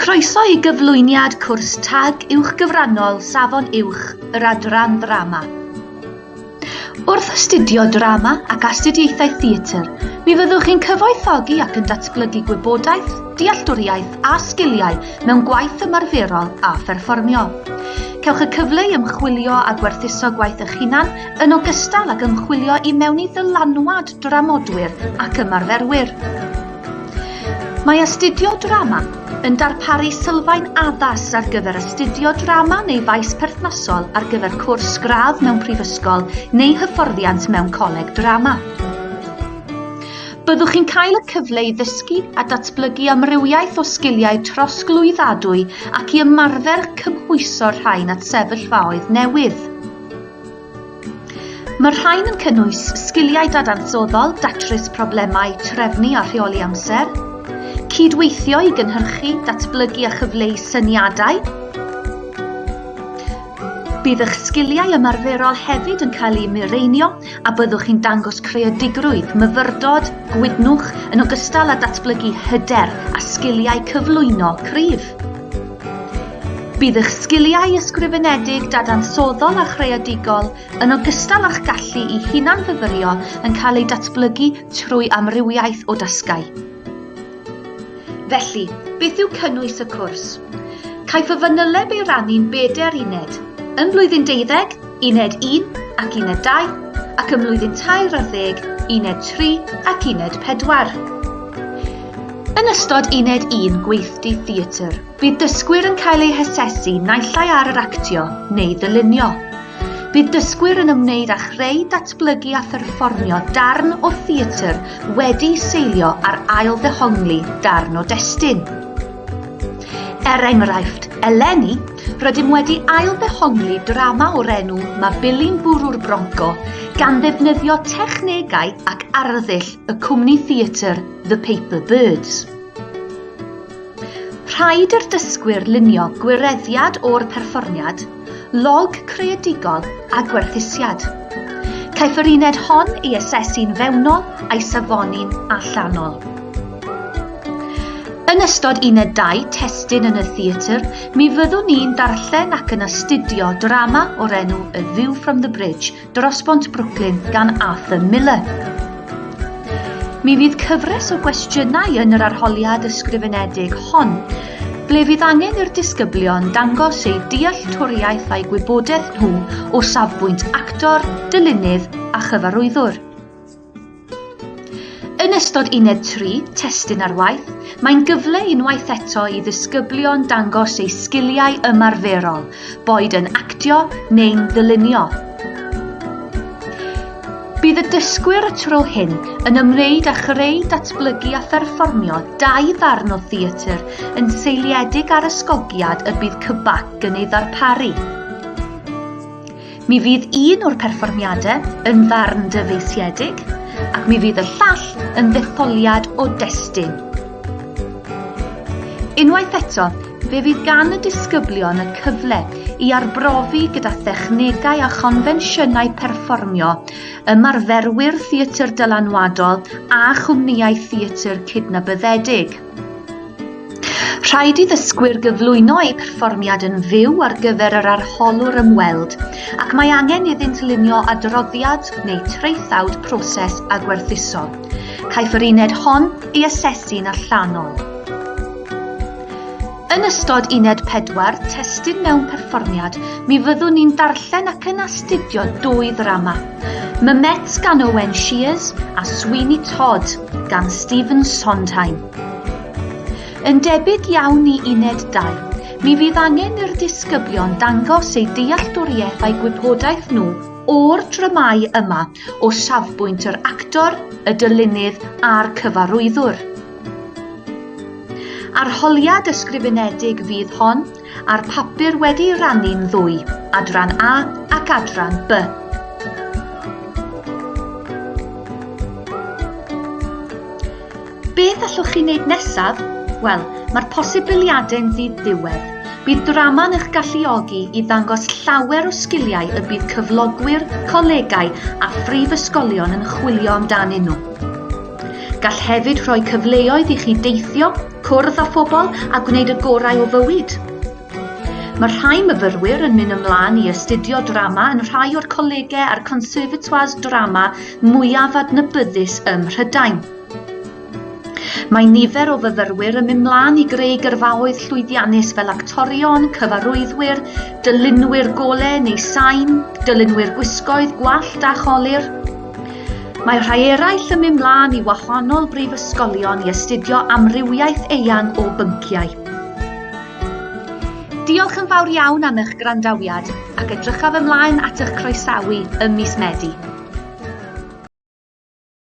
Croeso i gyflwyniad cwrs tag uwchgyfrannol Safon Uwch yr Adran Ddrama. Wrth astudio drama ac astudiaethau theatr, mi fyddwch chi'n cyfoethogi ac yn datblygu gwybodaeth, dealltwriaeth a sgiliau mewn gwaith ymarferol a pherfformio. Cewch y cyfle i ymchwilio a gwerthuso gwaith eich hunan yn ogystal ag ymchwilio i mewn i ddylanwad dramodwyr ac ymarferwyr. Mae Astudio Drama yn darparu sylfaen addas ar gyfer astudio drama neu faes perthnasol ar gyfer cwrs gradd mewn prifysgol neu hyfforddiant mewn coleg drama. Byddwch chi'n cael y cyfle i ddysgu a datblygu amrywiaeth o sgiliau trosglwyddadwy ac i ymarfer cymhwyso'r rhain at sefyllfaoedd newydd. Mae'r rhain yn cynnwys sgiliau dadansoddol, datrys problemau, trefnu a rheoli amser, cydweithio i gynhyrchu, datblygu a chyfleu syniadau, Bydd eich sgiliau ymarferol hefyd yn cael eu mireinio a byddwch chi'n dangos creadigrwydd, myfyrdod, gwydnwch yn ogystal â datblygu hyder a sgiliau cyflwyno cryf. Bydd eich sgiliau ysgrifenedig, dadansoddol a chreadigol, yn ogystal â'ch gallu i hunan-fyfyrio yn cael eu datblygu trwy amrywiaeth o dasgau. Felly, beth yw cynnwys y cwrs? Caiff y fanyleb ei rannu'n bedair uned. Yn Blwyddyn Deuddeg, Uned 1 ac Uned 2 ac ym mlwyddyn tair ar ddeg Uned 3 ac Uned 4. Yn ystod Uned 1 Gweithdy Theatr, bydd dysgwyr yn cael eu hasesu naill ai ar yr actio neu ddylunio. Bydd dysgwyr yn ymwneud â chreu, datblygu a pherfformio darn o theatr wedi seilio ar ail ddehongli darn o destun. Er enghraifft, eleni, Rydym wedi ail-ddehongli drama o'r enw Mae Billy'n Bwrw'r Bronco gan ddefnyddio technegau ac arddull y cwmni theatr The Paper Birds. Rhaid i'r dysgwyr lunio gwireddiad o'r perfformiad, log creadigol a gwerthusiad. Caiff yr uned hon ei asesu'n fewnol a'i safoni'n allanol. Yn ystod uned 2 testun yn y theatr, Mi fyddwn ni'n darllen ac yn astudio drama o'r enw A View from the Bridge, Dros Bont Brooklyn gan Arthur Miller. Mi fydd cyfres o gwestiynau yn yr arholiad ysgrifenedig hon, ble fydd angen i'r disgyblion dangos eu dealltwriaeth a'i gwybodaeth nhw o safbwynt actor, dylunydd a chyfarwyddwr. Yn ystod uned 3, testun ar waith, mae'n gyfle unwaith eto i ddisgyblion dangos eu sgiliau ymarferol, boed yn actio neu'n ddylunio. Bydd y dysgwyr y tro hyn yn ymwneud â chreu, datblygu a pherfformio dau ddarn o theatr yn seiliedig ar ysgogiad y bydd Cybac yn ei ddarparu. Mi fydd un o'r perfformiadau yn ddarn dyfeisiedig ac mi fydd y llall yn ddetholiad o destun. Unwaith eto, fe fydd gan y disgyblion y cyfle i arbrofi gyda thechnegau a chonfensiynau perfformio ymarferwyr theatr dylanwadol a chwmnïau theatr cydnabyddedig. Rhaid i ddysgwyr gyflwyno eu perfformiad yn fyw ar gyfer yr arholwr ymweld ac mae angen iddynt lunio adroddiad neu traethawd proses a gwerthuso. Caiff yr uned hon ei asesu'n allanol. Yn ystod uned pedwar, testun mewn perfformiad, mi fyddwn ni'n darllen ac yn astudio dwy ddrama. Mymet gan Owen Shears a Sweeney Todd gan Stephen Sondheim. Yn debyg iawn i uned dau, mi fydd angen i'r disgyblion dangos eu dealltwriaeth a'i gwybodaeth nhw o'r dramâu yma. o safbwynt yr actor, y dylunydd a'r cyfarwyddwr. Arholiad ysgrifenedig fydd hon a'r papur wedi rannu'n ddwy, adran A ac adran B. Beth allwch chi wneud nesaf? Wel, mae'r posibiliadau'n ddi-ddiwedd. Bydd drama'n eich galluogi i ddangos llawer o sgiliau y bydd cyflogwyr, colegau a phrifysgolion yn chwilio amdanyn nhw. Gall hefyd rhoi cyfleoedd i chi deithio, cwrdd â phobl a gwneud y gorau o fywyd. Mae rhai myfyrwyr yn mynd ymlaen i astudio drama yn rhai o'r colegau a'r conservatoires drama mwyaf adnabyddus ym Mhrydain. Mae nifer o fyfyrwyr yn mynd mlaen i greu gyrfaoedd llwyddiannus fel actorion, cyfarwyddwyr, dylunwyr golau neu sain, dylunwyr gwisgoedd, gwallt a cholir. Mae rhai eraill yn mynd mlaen i wahanol brifysgolion i astudio amrywiaeth eang o bynciau. Diolch yn fawr iawn am eich gwrandawiad ac edrychaf ymlaen at eich croesawu ym mis Medi.